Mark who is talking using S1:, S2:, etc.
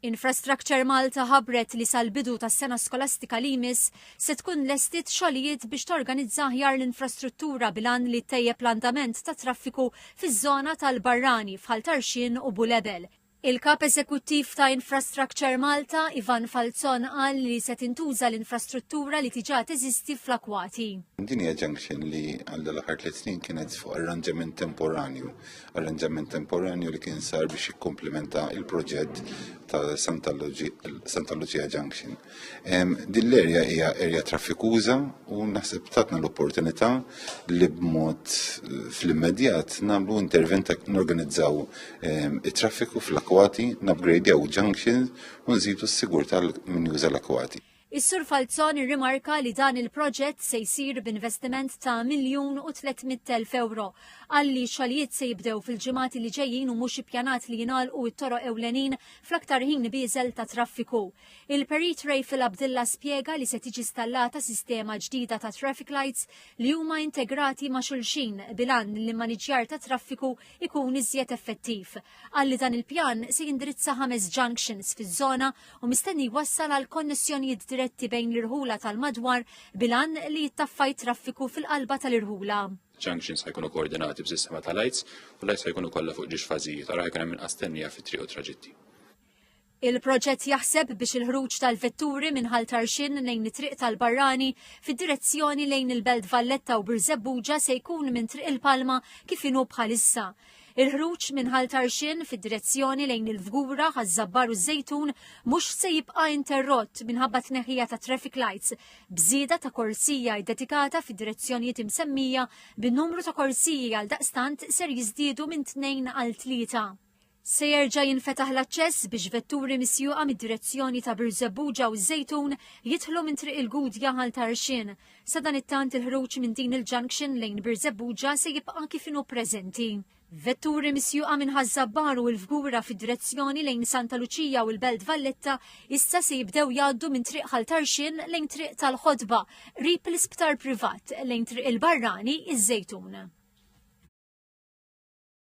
S1: Infrastructure Malta ħabbret li sal-bidu tas-sena skolastika li jmiss se tkun lestiet xogħlijiet biex torganizza aħjar l-infrastruttura bil-għan li ttejjeb l-andament tat-traffiku fiż-żona tal-Barrani f'Ħal Tarxien u Bulebel. Il-Kap Eżekuttiv ta' Infrastructure Malta, Ivan Falzon qal li se tintuża l-infrastruttura li diġà teżisti fl-Akwati. Din hija junction
S2: li għal dawn l-aħħar tliet snin kienet fuq arranġament temporanju arranġament temporanju li kien sar biex jikkomplementa il-proġett ta' Santa Lucia Junction. Din l-erja hija erja traffikuża u naħseb tatna l-opportunità li b'mod eh, fl-immedjat nagħmlu intervent norganizzaw it-traffiku fl-akwati, nabgradjaw junctions u nżidu s-sigurtà minn juża l-akwati. Is-Sur Falzon
S1: irrimarka li dan il-proġett se jsir b'investiment ta' miljun u 300 elf ewro. Qal li x-xogħlijiet se jibdew fil-ġimgħat li ġejjin u mhux ippjanat li jingħalqu it-toroq ewlenin fl-aktar ħin bieżel ta' traffiku. Il-Perit Rayful Abdilla spjega li se tiġi stallata sistema ġdida ta' traffic lights li huma integrati ma' xulxin bil-għan li l-maniġġjar tat-traffiku jkun iżjed effettiv. Qal li dan il-pjan se jindirizza ħames junctions fiż-żona u mistenni jwassal għal konnessjonijiet diretti bejn l-irħula tal-madwar bil-għan li jittaffa t-traffiku fil-qalba tal-irħula. Junctions ħajkunu
S3: koordinati b'sistema ta' lajts u lajts ħajkunu kollha fuq ġiex fażijiet għal ħajkun hemm inqas tennija fit-triq u traġitti.
S1: Il-proġett jaħseb biex il-ħruġ tal-vetturi minn ħal tarxin lejn it-triq tal-barrani fid-direzzjoni lejn il-Belt Valletta u Birżebbuġa se jkun minn triq il-Palma kif inhu bħalissa Il-ħruġ minn Ħal Tarxien fid-direzzjoni lejn il-Fgura, Ħaż-Żabbar u ż-Żejtun mhux se jibqa' interrott minħabba t-tneħħija ta' traffic lights, b'żieda ta' korsija ddedikata fid-direzzjonijiet imsemmija bi numru ta' korsiji għaldaqstant ser jiżdiedu minn tnejn għal tlieta. Se jerġa' jinfetaħ l-aċċess biex vetturi misjuqa mid-direzzjoni ta' Birżebbuġa u ż-Żejtun jidħlu minn Triq il-Gudja Ħal Tarxien, Sadanittant il-ħruġ minn din il-junction lejn Birżebbuġa se jibqa' kif inhu preżenti. Vetturi misjuqa minn Ħaż-Żabbar u l-Fgura fid-direzzjoni lejn Santa Luċija u l-Belt Valletta issa se jibdew jgħaddu minn Triq Ħal Tarxien lejn Triq tal-Ħotba, qrib l-Isptar Privat, lejn Triq il-Barrani, iż-Żejtun.